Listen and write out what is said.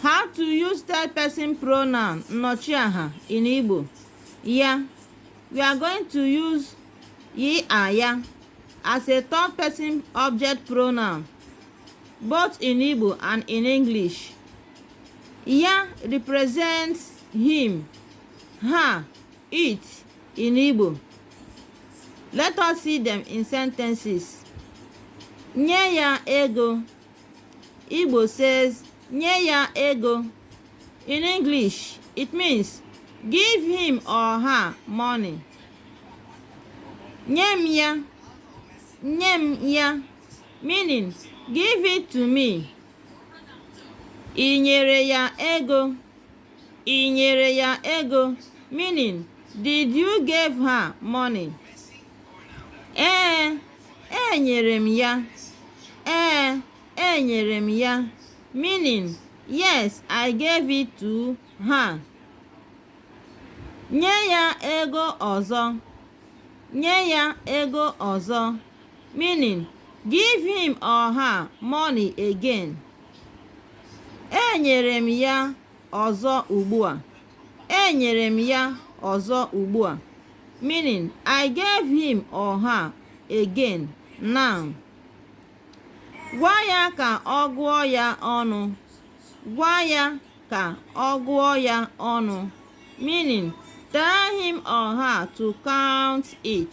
How to use third person pronoun nnọchiaha in Igbo? Ya. We are going to use ye and ya as a third person object pronoun both in Igbo and in English. Ya represents him, her, it in Igbo. Let us see them in sentences. Nye ya ego. Igbo says, nye ya ego. In English, it means give him or her money. Nye m ya. Nye m ya. Meaning, give it to me. I nyere ya ego. I nyere ya ego, meaning did you give her money? Ee, enyere m ya. Ee, enyere m ya, meaning yes, I gave it to her. Nye ya ego ọzọ. Nye ya ego ọzọ. Meaning, give him or her money again. enyere m ya ọzọ ugbu a enyere m ya ọzọ ugbu a meaning i gave him or her again now gwa ya ka ọ gụọ ya ọnụ gwa ya ka ọ gụọ ya ọnụ meaning tell him or her to count it